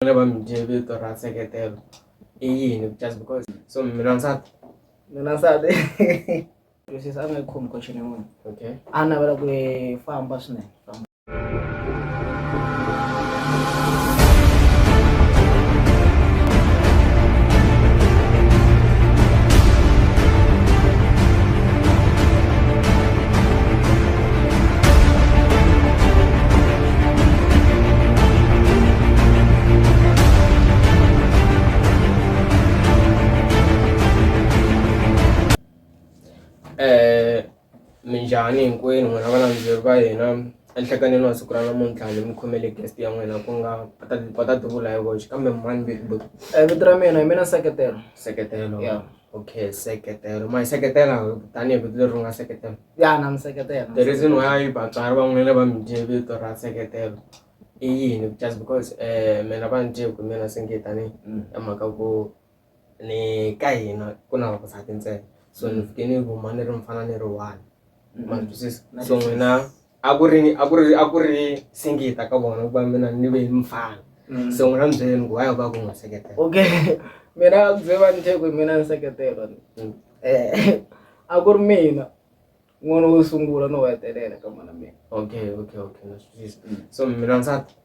vona va mi dye vito ra nseketelo i yini just because so mina nsati mina nsati twisisa a nga yi khomi question yin'wana okay a navela ku famba swinene famba eh minjhani hinkwenu n'wina va landzeri va hina enhlekanini wa siku ra namuntlha ni mi khomele guest ya n'wina ku nga va ta tivula hi voxe kambe mani bigbo eh, vito ra mina hi mina seketelo seketelo okay seketelo ma hi seketela tanihi vito leri ri nga seketelo ya na nseketelo the reason why vatswari van'wana va mi dye vito ra nseketelo i yini just because um mina va ni dye ku mina se nge tani mm. ya mhaka ku ni ka hina ku na vavasati ntsena so ni mm. fike ni vuma ni ri mfana ni ri one mm. ma twisisa so n'wina a ku ri a ku ri a ku ri singita ka vona ku va mina ni ve mfana so n'wina mi byeleni ku why va ku n'wi seketela okay mina a ku bye va ni dye ku mina ni seketelo Eh, a ku ri mina n'wana wo sungula no hetelela ka mhana mina okay okay okay na swi twisisa mm. so mina nsati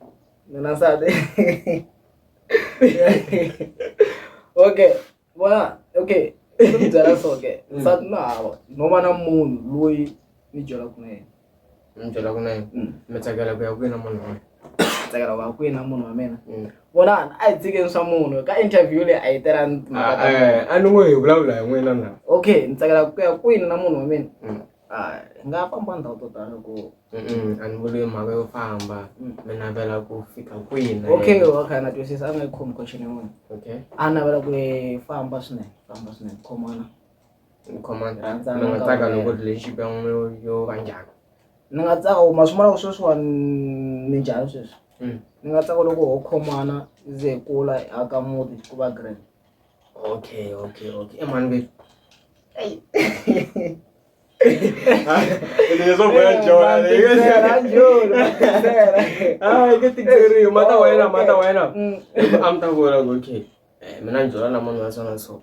mina nsati okay vona okay byela so ke mm. nsati na hava no va na munhu loyi ni byelaka na yena ndlela ku na yini mm. mi tsakela ku ya kwihi na munhu wena tsakela ku ya kwihi na munhu wa mina mm. vonani a hi tshikeni swa munhu ka interview leyi a yi tela ah, eh, a ni ngo hi vulavula hi n'wina na okay ni tsakela ku ya kwini na munhu wa mina mm. ah, hi nga famba ndhawu to tala ku a ni vuli mhaka yo famba mi navela ku fika kwini okay okay na twisisa a nga yi khomi question yin'wana okay a navela ku famba swinene famba swinene khomana ni khoma Rhandza ni nga tsaka loko ri lexi xi n'we yo yo va njhani ni nga tsaka u ma swi vona ku sweswiwani ni njhani sweswi Mm. ni nga tsaka loko ho khomana yi ze hi kula hi aka muti ku va grand okay okay okay emani ve leswo boya jona hayi ke tikeriwe mata wa yena mata wa yena Mm. a mi ta vona ku okay eh, mina ni byela na munhu wa swona so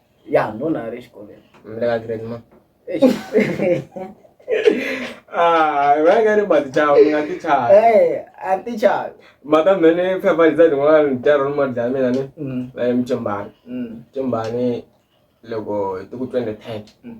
ya ndona ari exikolweni mi le ka grade ma Ah, va nga ri matichava mi nga tichava Eh, a ti chavi mata mene phepha liza rin'wana ntirho ni mali dlaya mina ni Mm, va ye mucimbani mm, mucimbani loko hi ti ku twenty ten mm.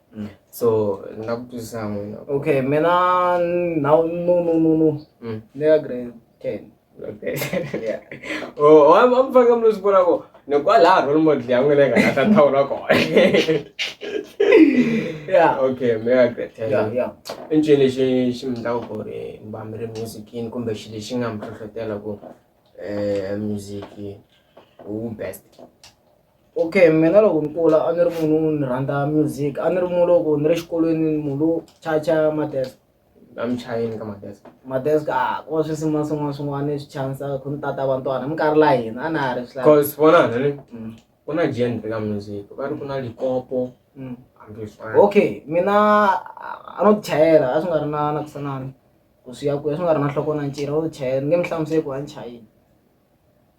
Mm. so na ku twisisa n'wina okay mina no no no no no Mm. ni ka grade ten okay yeah oh wa wa mfaka mlo sibona ko ne kwa la role model ya n'wina ka ta thawula ko yeah okay me ya great yeah yeah i nchumu lexi xi mi ndlaku ku ri mi va mi ri musicini kumbe xilo lexi nga mi hlohlotela ku um music wu best Okay mina loko ni kula a ni ri munhu wo ni rhandza music a ni ri munhu loko ni ri xikolweni munhu lowu chacha madesk a mi chayeni ka madesk madesk a ku va swisin'wana swin'wana swin'wana swi chanisa ku ni tata vantwana minkarhi la hina a na ha ri swi cause vona ni mm. ku na genre ka music va ri ku na likopo mm. okay mina a no tichayela a swi nga ri na na kusanani ku swi ya kuya swi nga ri na nhloko na ncirha wo tichayela ni nge mi hlamuseli ku a ni chayini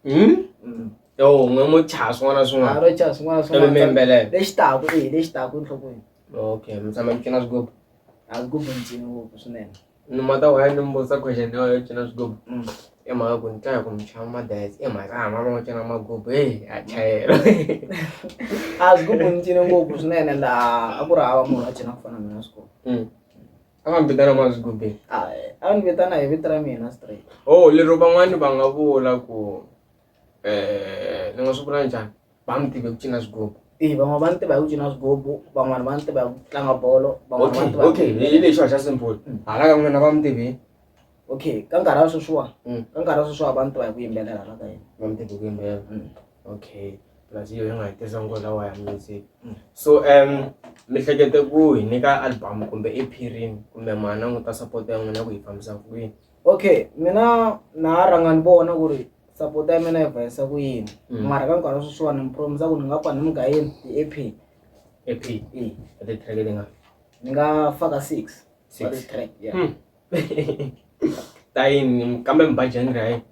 hmm? yo n'we mo chaha swin'wana na swin'wana ro chaha swin'wana na swin'wana mimbelela lexi taku e lexi taku enhlokweni okay mi tshama mi cina swigubu a swigubu ni cini ngopfu swinene ni mata waya ni mbusa question leyo yo cina swigubu mm. i mhaka ku ni twa hi ku mi chava madayes i mhaka hama va n'wi cina magubu heyi a chayela a swigubu ni cine ngopfu swinene laha a ku ri hava munhu a cina ku fana mina swigubu mm. a nga mi vitana mazigubi a a ni vitana hi vito ra mina straight oh lero van'wani va nga vula ku eh ni nga swi vula njhani va mi tive ku cina swigubu i van'wana va ni tiva hi ku cina swigubu van'wana va ni tiva hi ku tlanga bolo van'wana va ni tiva hi ku okay yimbelela. hi lexi xa simple Mm. hala ka n'wina va mi tive okay ka nkarhi wa sweswiwa Mm. ka nkarhi wa sweswiwa va ni tiva hi ku yimbelela la ka yena va mi tive ku yimbelela Mm. okay plus yo nga hetisa ngo lawa ya music mm. so um mihlekete ku hi nyika album kumbe e pirin kumbe mana n'wi ta support ya n'wina ku yi fambisa ku yini okay mina na ha rhanga ni vona ku ri support ya mina yi vayisa ku yini mm. mara ka nkarhi wa sweswiwani ni promisa ku ni nga pfa ni mi gayeni ti-ep ep e ti-track ti nga ni nga faka six six track yeah hmm. ta yini kambe mi ba genre ya yini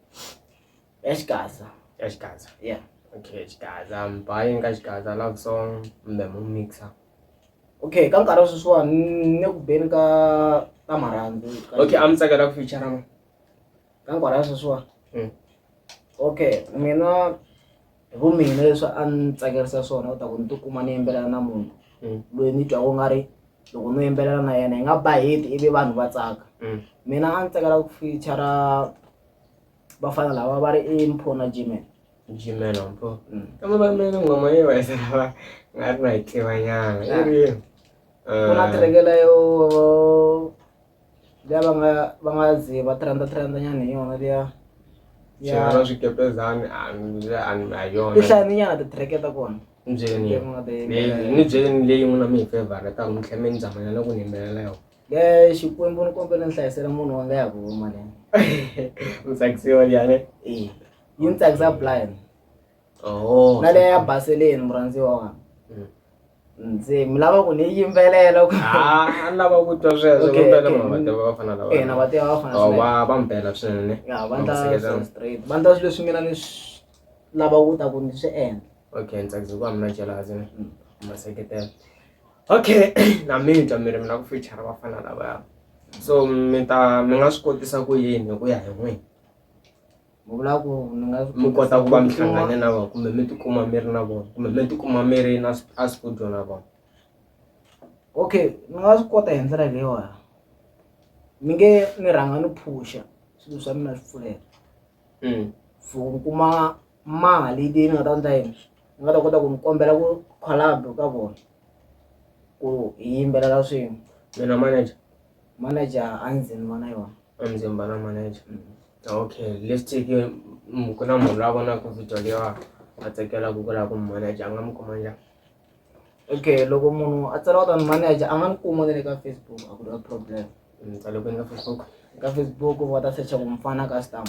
ya xigaza ya xigaza yeah okay xigaza I'm buying ka xigaza love song kumbe mu mixa okay ka nkarhi wa sweswiwani ni ku beni ka ka marhandzu okay a mi tsakela ku feature ma ka nkarhi wa sweswiwani mm. okay mina hi vu mina leswi a ni tsakerisa swona u ta ku ni tikuma ni yimbelela na munhu mm. loyi ni twa ku nga ri loko no yimbelela na yena hi nga ba heti ivi vanhu va tsaka mm. mina a ni tsakela ku feature vafana lava va ri i mpho na gmail gmail mpho mm. kambe va mina ngoma yi va yisa lava nga ri na yi tivanyana i ri ku na ah. tirekela yo liya va nga va nga zi va trenda trenda nyana hi yona liya xana swikepezani a yona ti hlaya ni nyana titireke ta kona ni byeleni leyi n'wina mi hi fevhara ta n'wi tlhe mi ni zamanela ku ni yimbelela yona Leyi Xikwembu ni kombela ni hlayisela munhu wa nga ya ku huma leyi. U tsakisiwa njhani? Eh. Yi ni tsakisa blind. Oh. Na leya ya baseleni murhandziwa wa. Mm. Ndzi mi lava ku ni yimbelela ku. Ah, lava ku twa sweswo ku mpela munhu va tiva vafana lava. Eh, na va tiva vafana. Oh, va va mpela swinene. Ya, va ndla so straight. Va ndla swilo leswi mina ni lava ku ta ku ni swi endla. Okay, ni tsakisa ku va mina jealous ni. Mm. Ma seketela. okay na mi twa mi ri mi lava ku fichara vafana lavaya so mi ta mi nga swi kotisa ku yini hi ku ya hi n'wini mi kota ku va mi hlangane na vona kumbe mi tikuma mi ri na vona kumbe mi tikuma mi ri na a studio na vona okay ni nga swi kota hi ndlela leyiwani mi nge ni rhanga ni phusha swilo swa mina swi pfuleka mm. for ku kuma mali yi ni nga ta endla yini ni nga ta kota ku mi kombela ku collab ka vona ku hi yimbelela swin'we mina manager manager a ndzi ni vona yona a ndzi mbala manager mm. okay let's take mm, ku na munhu la vonaka video leyo a tsakela ku kula ku manager a nga mi kuma njhani okay loko munhu a tsala ku ta ni manager a nga ni kuma ni le ka facebook a ku ri problem ni mm, tsale kwini ka facebook ka facebook va ta secha ku mufana ka stamp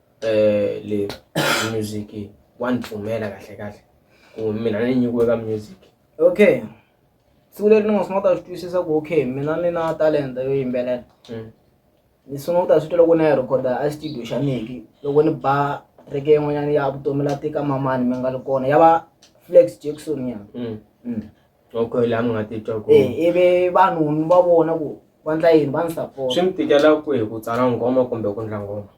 eh le music wanipfumela kahle kahle ku mina ni nyikiwe ka music okay siku leri ni nga sungula ta swi twisisa ku okay mina ni na talenta yo yimbelela mm. ni sungula ku ta swi twa loko na ya rhekhoda a studio xa meki loko ni ba reke yin'wanyana ya vutomi la tika mamani mi nga ri kona ya va flex jackson ya mm. mm. okay laha mi nga titwa ku eh, ivi vanhu ni va vona ku va ndla yini va ni support swi mi tikela ku hi ku tsala ngoma kumbe ku ndla ngoma